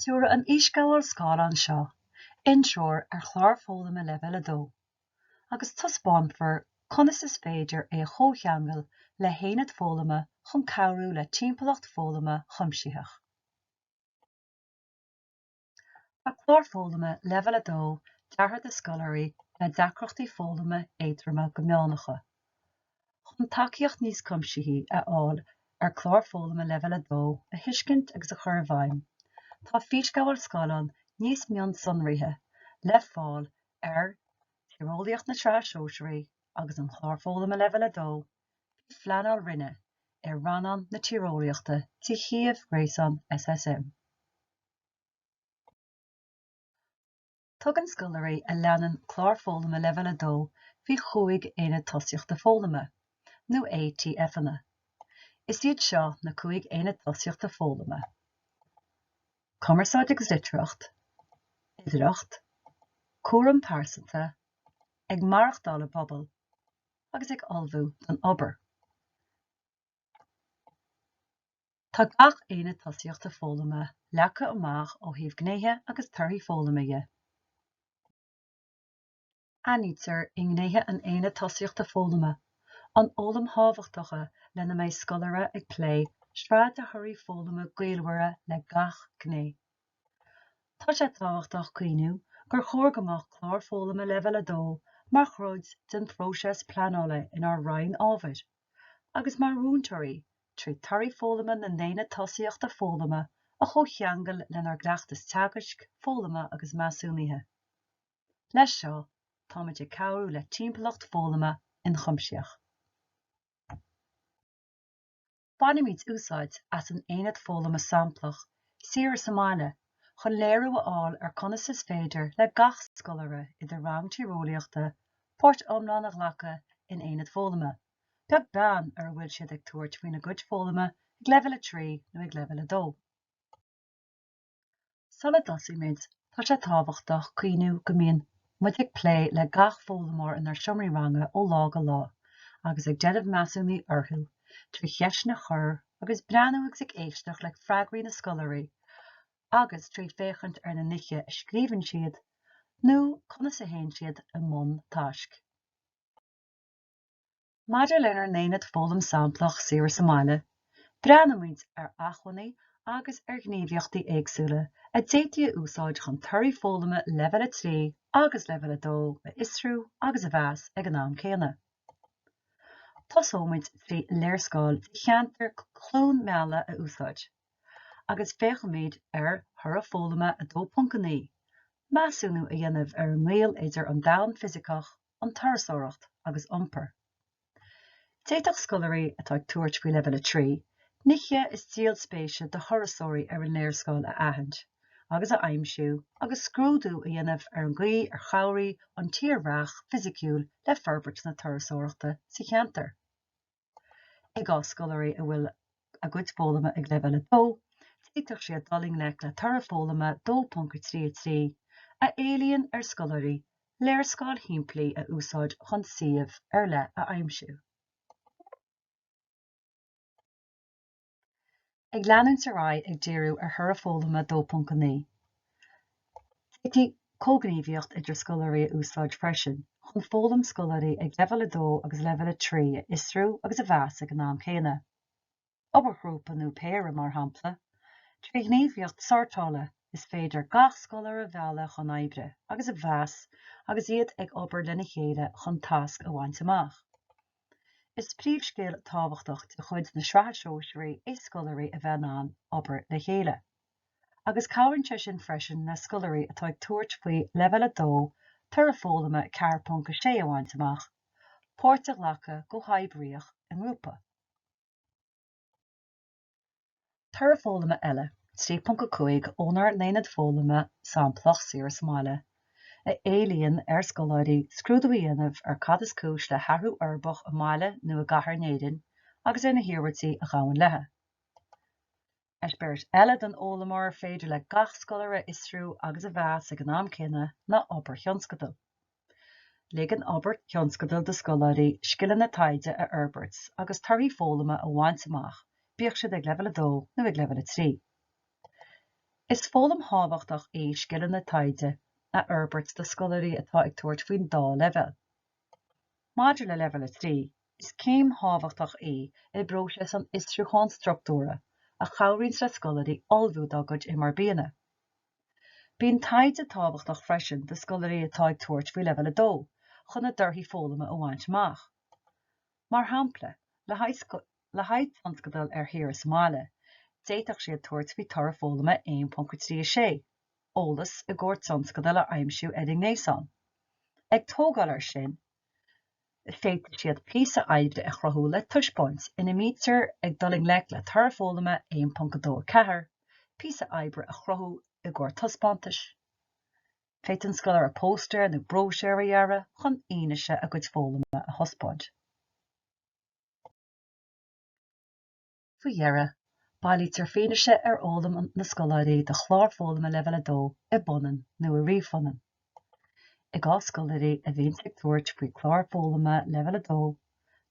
Tabharfar san fhísghabháil scáileáin seo, intreoir ar chlár foghlama Leibhéal 2, agus taispeánfar conas is féidir é a chomhcheangal le haonad foghlama chun cabhrú le timpeallacht foghlama chuimsitheach. Tá clár foghlama Leibhéal 2 deartha do scoláirí le deacrachtaí foghlama éadroma go meánacha. Chun tacaíocht níos cuimsithí a fháil ar chlár foghlama Leibhéal 2 a thuiscint agus a chur i bhfeidhm, tá físghabháil scáileáin níos mionsonraithe le fáil ar Tíreolaíocht na Sraithe Sóisearaí agus an Chláir Foghlama Leibhéal 2 faoi phleanáil roinne i rannán na Tíreolaíochta de shuíomh gréasáin SSM. Tugann scoláirí a leanann Clár Foghlama Leibhéal 2 faoi chúig Aonad Tosaíochta Foghlama, nó ATFanna. Is iad seo na cúig Aonad Tosaíochta Foghlama, Cumarsáid agus Litearthacht, Uimhearthacht, Cúram Pearsanta, Ag Maireachtáil i bPobal, agus Ag Ullmhú don Obair. Tá gach Aonad Tosaíochta Foghlama leagtha amach ó thaobh Gnéithe agus Torthaí Foghlama dhe. Aithnítear i ngnéithe an Aonaid Tosaíochta Foghlama an fhoghlaim thábhachtach lena mbeidh scoláire ag plé sraith de thorthaí foghlama gaolmhara le gach gné. Tá sé tábhachtach cuimhniú gur chóir go mbeadh Clár Foghlama Leibhéal 2 mar chuid den phróiseas pleanála inár Roinn Ábhair. agus mar mhúinteoirí trí Torthaí Foghlama na nAonad Tosaíochta Foghlama a chomhcheangal lenár gcleachtas teagaisc, foghlama agus measúnaithe. Leis seo, táimid ag cabhrú le timpeallacht foghlama ionchuimsitheach. Bainimid úsáid as an Aonad Foghlama Samplach Thiar sa mBaile chun léiriú a fháil ar conas is féidir le gach scoláire i do rang tíreolaíochta páirt iomlán a ghlacadh in aonad foghlama, beag beann ar a bhfuil siad ag tabhairt faoina gcuid foghlama ag leibhéal 3 nó ag leibhéal 2. Sula dtosaímid, tá sé tábhachtach cuimhniú go mbíonn muid ag plé le gach foghlaimeoir inár seomraí ranga ó lá go lá agus ag déanamh measúnaithe orthu trí cheisteanna a chur agus breathnú agus ag éisteacht le freagraí na scoláirí agus trí féachaint ar na nithe a scríobhann siad nó conas a théann siad i mbun taisc. Maidir lenár n-aonad foghlama samplach saoire sa mbaile, breathnaímid ar acmhainní agus ar ghníomhaíochtaí éagsúla a d'fhéadfaí a úsáid chun torthaí foghlama Leibhéal 3 agus Leibhéal 2 a fhiosrú agus a mheas ag an am céanna. Tosóimid trí léarscáil de cheantar Chluain Meala a úsáid, agus féachfaimid ar Thoradh Foghlama 2.9, measúnú a dhéanamh ar an ngaol idir an domhan fisiceach an turasóireacht agus iompar. D'fhéadfadh scoláirí atá ag tabhairt faoi leibhéal a trí, nithe is díol spéise do thurasóirí ar an léarscáil a aithint agus a aimsiú agus scrúdú a dhéanamh ar an gcaoi ar chabhraigh an tírdhreach fisiciúil le forbairt na turasóireachta sa cheantar. I gcás scoláirí a bhfuil a gcuid foghlama ag Leibhéal 2, d'fhéadfadh siad dul i ngleic le toradh foghlama 2.33, a éilíonn ar scoláirí léarscáil shimplí a úsáid chun suíomh ar leith a aimsiú. Ag leanúint ar aghaidh ag díriú ar Thoradh Foghlama 2.9, d'fhéadfaí comhghníomhaíocht idir scoláirí a úsáid freisin chun foghlaim scoláirí ag Leibhéal 2 agus Leibhéal 3 a fhiosrú agus a mheas ag an am céanna. Obair ghrúpa nó péire, mar shampla, trí ghníomhaíocht sórtála, is féidir gach scoláire a mhealladh chun oibre agus a mheas agus iad ag obair lena chéile chun tasc a bhaint amach. Is príomhscil thábhachtach de chuid na Sraithe Sóisearaí é scoláirí a bheith in ann obair le chéile, agus cabhraíonn sé sin freisin le scoláirí atá ag tabhairt faoi Leibhéal 2 toradh foghlama 4.6 a bhaint amach, páirt a ghlacadh go comhoibríoch i ngrúpa. Toradh foghlama eile, 3.5 ónár n-aonad foghlama samplach saoire sa mbaile, a éilíonn ar scoláirí scrúdú a dhéanamh ar cad is cúis le hathrú uirbeach i mbaile nó i gcathair in Éirinn agus ar na hiarmhairtí a ghabhann leo. Eispéireas eile den fhoghlaim ar féidir le gach scoláire a fhiosrú agus a mheas ag an am céanna ná obair thionscadail. Ligeann obair thionscadail do scoláirí scileanna taighde a fhorbairt agus torthaí foghlama a bhaint amach, bíodh siad ag leibhéal 2 nó ag leibhéal 3. Is foghlaim thábhachtach í scileanna taighde a fhorbairt do scoláirí atá ag tabhairt faoin dá leibhéal. Maidir le leibhéal 3, is céim thábhachtach í i bpróiseas an fhiosrúcháin struchtúrtha a chabhraíonns le scoláirí ullmhú dá gcuid MRBanna. Bíonn taighde tábhachtach freisin do scoláirí atá ag tabhairt faoi leibhéal a dó chun a dtorthaí foghlama a bhaint amach. Mar shampla, le haghaidh tionscadal ar shaoire sa mbaile, d'fhéadfadh siad tabhairt faoi toradh foghlama 1.36, eolas i gcomhair tionscadail a aimsiú ar an nGréasán. Ag tógáil ar sin, Féadfaidh siad píosa oibre a chruthú le taispeáint ina mbítear ag dul i ngleic le toradh foghlama 1.24, píosa oibre a chruthú i gcomhair taispeántais. Féadfaidh an scoláire póstaeir nó bróisiúir a dhearadh chun fianaise a gcuid foghlama a thaispeáint. Faoi dheireadh, bailítear fianaise ar fhoghlaim na scoláirí do chlár foghlama Leibhéal 2 i bpunann nó i ríomhphunann. I gcás scoláirí a bhíonn ag tabhairt faoi chlár foghlama Leibhéal 2,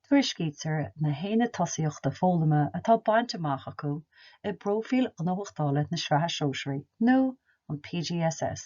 tuairiscítear na haonaid tosaíochta foghlama atá bainte amach acu i bpróifíl ghnóthachtála na Sraithe Sóisearaí nó an PGSS.